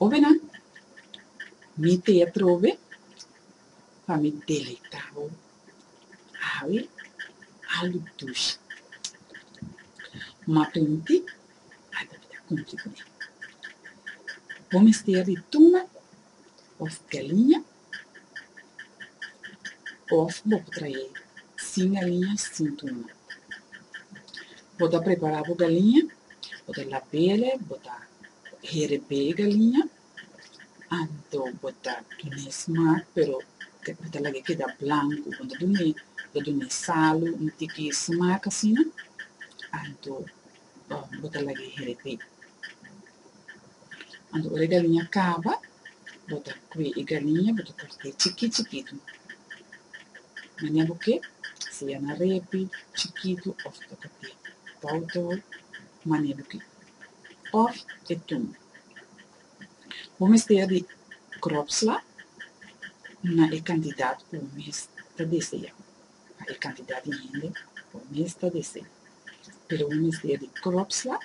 Obe nan, mi te a trobe pa mi deleitá bo awe algu dushi. M'a printi a tabata kumpli ku mi. Bo mester di tuna òf galiña Òf bo por traé sin galiña sin tumati. Bo ta prepará bo galiña, bo ta lab'el, bo ta hereb'é e galiña, anto bo ta dun'é smak pero bo ta lag'é keda blanku, bo no ta dun'é, bo ta dun'é salu un tiki smak asina, anto. bo ta laga e heret ei. Anto ora e galiña kaba, bo ta kue e galiña, bo ta kort'é chikí chikitu. Manera bo ke, sea na repi, chikitu òf bo ta kort'é bou tou, manera bo ke, òf e tun. Bo mester di kropsla na e kantidat ku bo mes ta desea. pa e kantidat di hende ku mes ta desé. Pero bo mester di kropsla,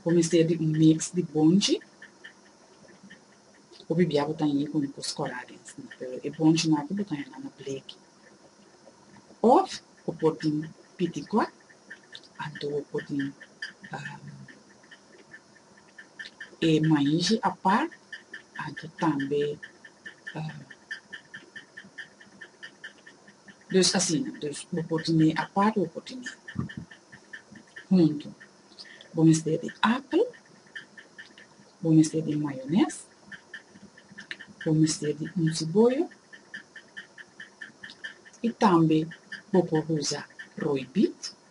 bo mester di un mix di bonchi, hopi bia bo ta hini ku un kos kòrá den sina, pero e bonchinan akí bo ta hanga na bleki. Òf bo por tin pitikòt, anto bo por tin. e mainzi apart, anto tambe dus asina, dus bo por tene apart bo por tene huntu, bo mester di apel, bo mester di mayones, bo mester di un siboyo y tambe bo por usa roibit.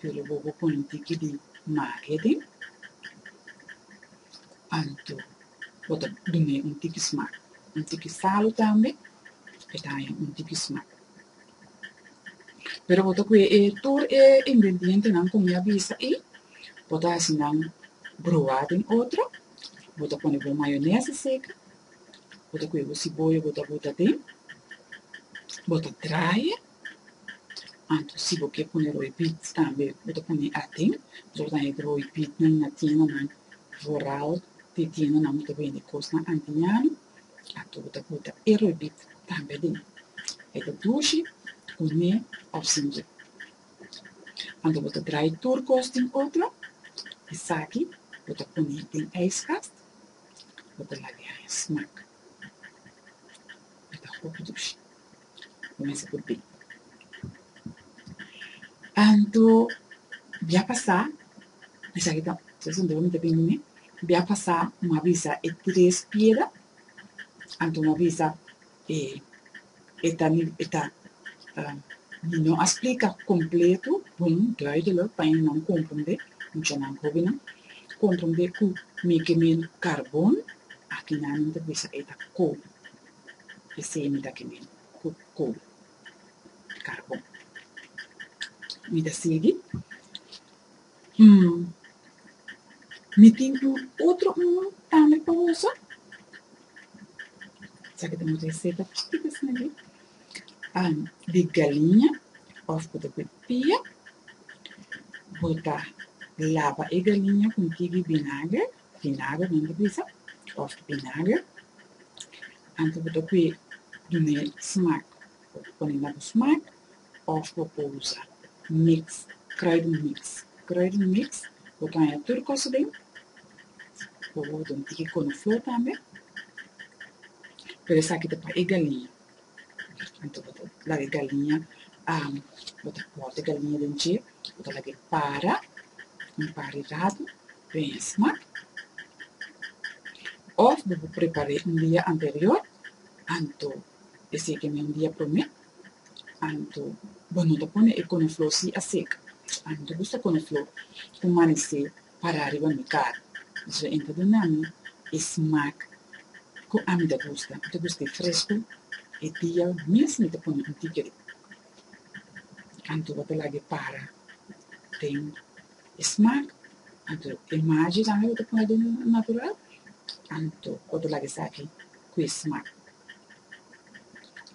Pero bo bo pone tiki di maria den anto bo ta dun'e un tiki smak, un tiki falu tambe e ta haña un tiki smak. Pero bo ta kue e tur e ingredientenan ku mi a bisa ei, bo ta hasi nan broa den otro, bo ta pone bo mayonesa seka, bo ta kue bo siboya bo ta bota den, bo ta traye. Anto si bo ke pone roi pit tambe bo ta pone aten pasobra bo ta henter roi pit nan na tiendanan vooral di e tiendanan bo ta bende kosnan antiñano anto bo ta buta e roi pit tambe aden e ta dushi kuné òf sinje anto bo ta drai tur kos den otro esaki bo ta pone den ijskast bo ta laga haña smak e ta hopi dushi. Kumins'a ku tin. Anto bia pasá, esaki ta un pregunta ku mi ta bini na mi, bia pasá m'ha bisa e tres piera, anto m'ha bisa e e ta ni e ta mi no a splika kompletu, bon, duidelijk, pa enan komprondé, muchanan hóbennan komprondé ku mi kem'é karbon, aki nan nan ta bisa e ta kó. e semi ta kem'é ku kol di karbon. Mi ta sigui, Hm, mi tin un otro un tambe pa usa? Sa ke ta mucha e seta chikita asina aki, am, di galiña òf ku ta kuit pia, bo ta laba e galiña ku un tigi binager, Vinagre den e bisa of vinagre antes bo ta kue dun'e smak bo por pone na bo smak of bo por usa mix kruiden mix kruiden mix bo ta haña tur kos aden bo ta mete konoflor tambe pero esaki ta pa e galiña. Anto bo ta laga e galiña, bo ta bòt e galiña den dje, bo ta lag'é para un par di ratu mèsma, òf bo por prepar'é un dia anterior, anto esiki mi un dia promé, anto bo no ta pone e konofló, si a seka, anto bo usa konofló ku manesé Para riba mi karo. Mi su entra den ami e smak ku ami ta gusta. Mi ta gusta e fresku. E dia mes mi ta pone un tiket di kantu bo ta laga e para den e smak. Anto e maji tambe bo ta pone den natural. Anto bo ta laga esaki ku e smak.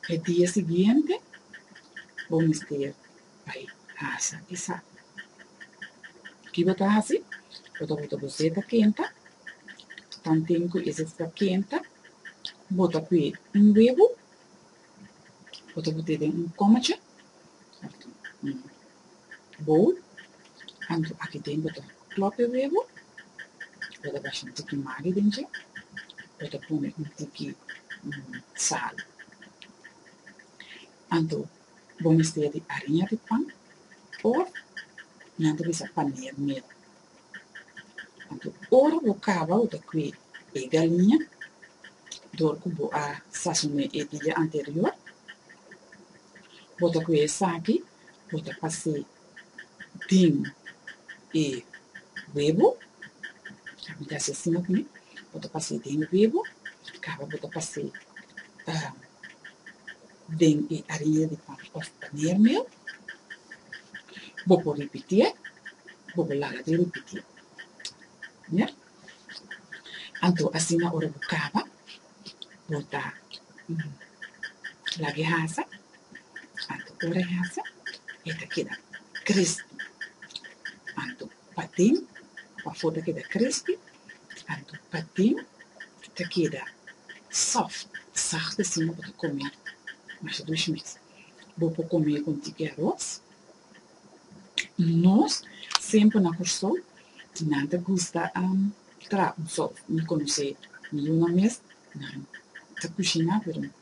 E dia siguiente bo mester bay casa di Santa. Ki bo ta hasi? Bo ta bota bo zeta kenta, tanten ku e zeta ta kenta, bo ta kue un webo, bo ta bot'e den un komacha òf un bowl, anto aki den bo ta klòp e webo, bo ta basha un tiki magi den dje, bo ta pone un tiki sal, anto Bo mester di ariña di pan òf nan ta bisa paneer meel. Anto ora bo kaba bo ta kue e galiña dor ku bo a sasoné e dia anterior. Bo ta kue esaki, bo ta pas'é den e webo, ami ta hasi asina ku mi, bo ta pas'é den e webo, kaba bo ta pas'é. Den e aria di pan òf paner mel, bo por ripitié, bo por laga di ripitié. Mira, anto asina ora bo kaba, bo ta laga e hasa, anto ora e hasa e ta keda krispi. Anto. Patin pafó ta keda krispi, anto patin ta keda sòft, sag ta siña bo ta kome mas dush mes. Bo por kome con tiki aros. Nos semper na Kòrsou nan ta gusta traha un sòf. Mi konosé mi yunan mes, nan ta kushiná pero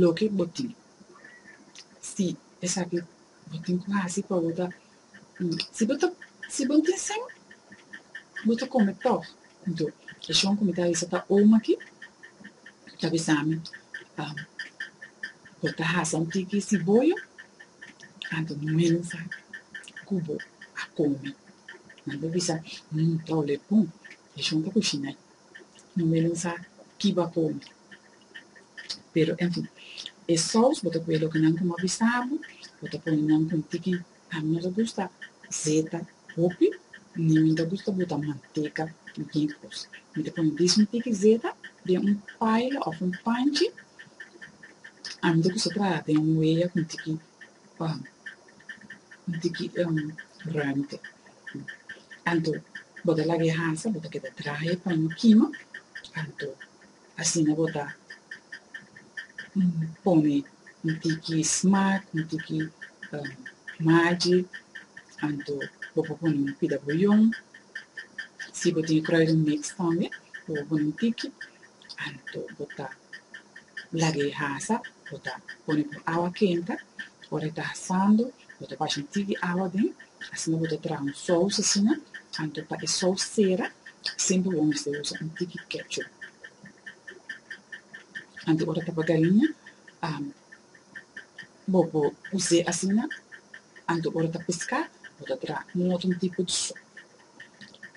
loke bo tin. Si esaki bo tin ku hasi pa bo ta si bo ta si bo tin sin bo ta kome tòg. Anto e shon ku mi ta bisa pa omi aki ta bisa mi bo ta hasa un tiki siboyo anto no menos sa ku bo a kome. Nan bo bisa ta wòlè bon e shon ta kushinai. no me lo sa ki bo a komi. Pero, en fin, e sous bo ta kue loke nan ku mi a bisa bo, bo ta pone nan ku un tiki, ami no ta gusta zeta hopi, ni mi no ta gusta bota manteka den ken kos. Mi ta pone dies un tiki zeta den un paila òf un panchi, ami ta kusa traha den un weya ku un tiki pa un tiki un ruimte. Anto bo ta laga e hasa, bo ta keda traha e paño kima, anto asina bo ta pone un tiki smak, un tiki magi, anto bo por pone un pida buyon. Si bo tin e kruidenmix tambe, bo por pone un tiki, anto bo ta laga e hasa bo ta pone ku awa kenta ora e ta hasando bo ta basha un tik di awa den asina bo ta traha un sous asina anto pa e sous sera semper bo mester usa un tiki ketchup anto ora ta pa gariña bo por use asina anto ora ta peska bo ta traha un otro tipo di sop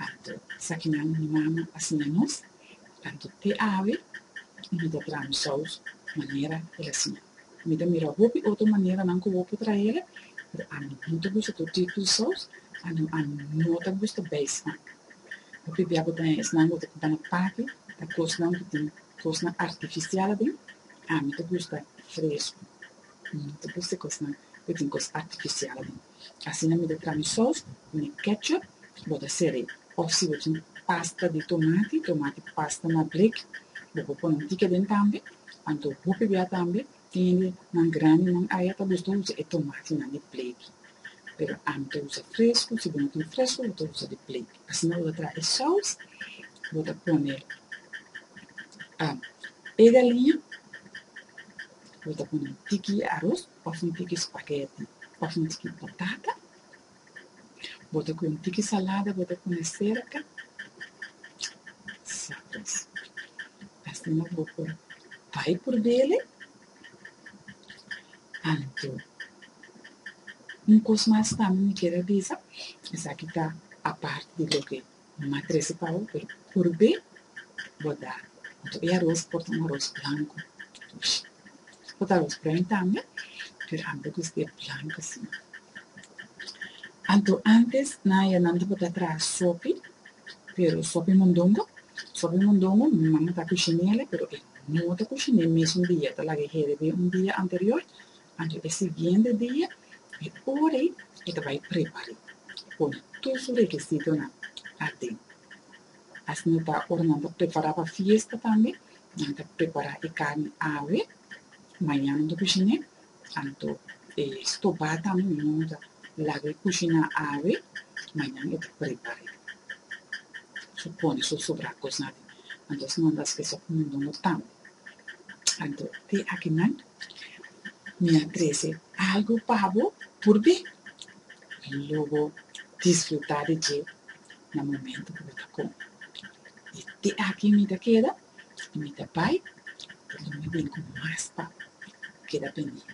anto esaki nan mi mama a siña nos. Anto te awe y mi ta traha mi saus manera el a siña. Mi ta mira hopi otro maneranan cu bo por traha el, pero ami no ta gusta tur tipo di saus, anto ami no ta gusta bay esnan. Hopi bia bo ta haña esnan cu ta cuba na paki, ta cosnan cu tin cosnan artificial aden, ami ta gusta fresco, no ta gusta cosnan cu tin cos artificial aden. Asina mi ta traha mi sòs ku mi kètchup, bo ta sere. Òf si bo tin pasta di tomati, tomati pasta na blik, bo por pone un tiki aden tambe. Anto hopi bia tambe tin hende nan grandi nan aya ta gusta usa e tomatinan di blik. Pero ami ta usa fresku, si bo no tin fresku bo ta usa di blik. Asina bo ta traha e sòs, bo ta pone e galiña, bo ta pone un tiki aros. Of un tiki spaghetti of un tiki potata, bo ta kue un tiki salada bo ta pone serka, sa pues. Asina bo por bai purbele, anto un kos mas tambe mi kier a bisa, esaki ta aparte di loke. Nan a trece pau pe purbe bota anto e aros por ta un aros blanco tush e por ta aros pren tambe pero a mira cu este blanco asina anto antes nan a ya nan ta bota traha sopi pero sopi mondongo sopi mondongo mi mama ta cushine ele pero e no ta cushine mesun dia ta laga e herbi un dia anterior Anto e siguiente dia, e ora ei, e ta bai prepar'é, e pone tur su rekisitonan aden. Asina ta ta ora nan ta prepará pa fiesta tambe, nan ta prepará e karni awe, mañana nan ta kushiné, anto e stobá tambe mi momo ta laga e kushiná awe, mañana e ta prepar'é. Su pone su sobrá kosnan aden, anto asina nan ta hask'é sòk mundungu tambe. Anto te akinan, Mi a trece algo pa bo por be, y luego disfruta di dje na momento cu bo ta con. Y te aki mi ta keda y mi ta bay, porque mi a bini cu mas pa bo. Keda pendiente.